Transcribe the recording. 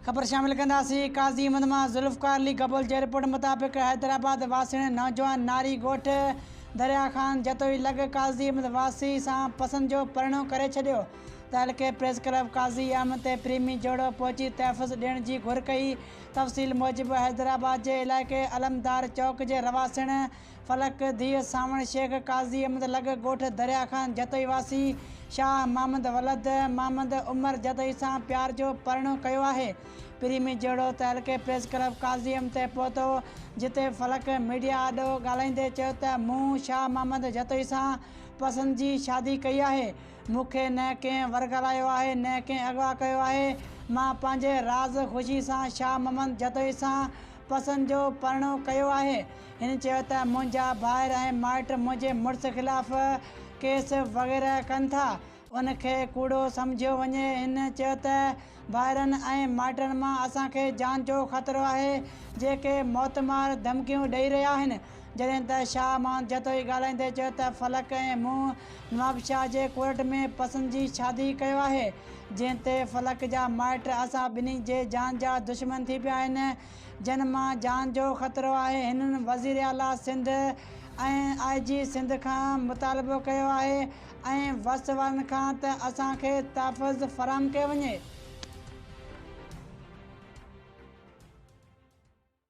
خبر شامل ڪنداسين قاضي احمد مان ذوالفقار علي گبول جي رپورٽ مطابق حيدرآباد واسيڻي نوجوان ناري ڳوٺ دريا خان جتوئي لڳ قاضي احمد واسي سان پسند جو پرڻو ڪري ڇڏيو تعلقي پريس ڪلب قاضي احمد تي پريمي جوڙو پهچي تحفظ ڏيڻ جي گهر ڪئي تفصيل موجب حيدرآباد جي علائقي علمدار چوڪ جي رهواسيڻ فلڪ، ڌيء سانوڻ شيخ قاضي احمد لڳ، ڳوٺ دريا خان جتوئي واسي، شاهه محمد ولد محمد عمر جتوئي سان پيار جو پرڻو ڪيو آهي. پري ۾ جهڙو ته حلقي پريس ڪلب قاضي احمد تي پهتو، جتي فلڪ ميڊيا آڏو ڳالهائيندي چيو ته مون شاهه محمد جتوئي سان پسند جي شادي ڪئي آهي، مون کي نه ڪنهن ورغلايو آهي نه ڪنهن اغوا ڪيو آهي، مان پنهنجي راض خوشي سان شاهه محمد جتوئي سان پسند جو پرڻو ڪيو آهي. هن چيو ته منهنجا ڀائر ۽ مائٽ منهنجي مڙس خلاف ڪيس وغيره ڪن ٿا، ان کي ڪوڙو سمجهيو وڃي. هن چيو ته ڀائرن ۽ مائٽن مان اسان کي جان جو خطرو آهي، جيڪي موتمار ڌمڪيون ڏئي رهيا آهن، جڏهن ته شاهه مان جتوئي ڳالهائيندي چيو ته فلڪ ۽ مون نوابشاهه جي ڪورٽ ۾ پسند جي شادي ڪيو آهي، جنهن تي فلڪ جا مائٽ اسان ٻنهي جي جان جا دشمن ٿي پيا آهن. جن مان جان جو خطرو آهي، هنن وزير اعليٰ سنڌ ۽ آء جي سنڌ کان مطالبو ڪيو آهي ۽ وس وارن کان ته اسان کي تحفظ فراهم ڪيو وڃي.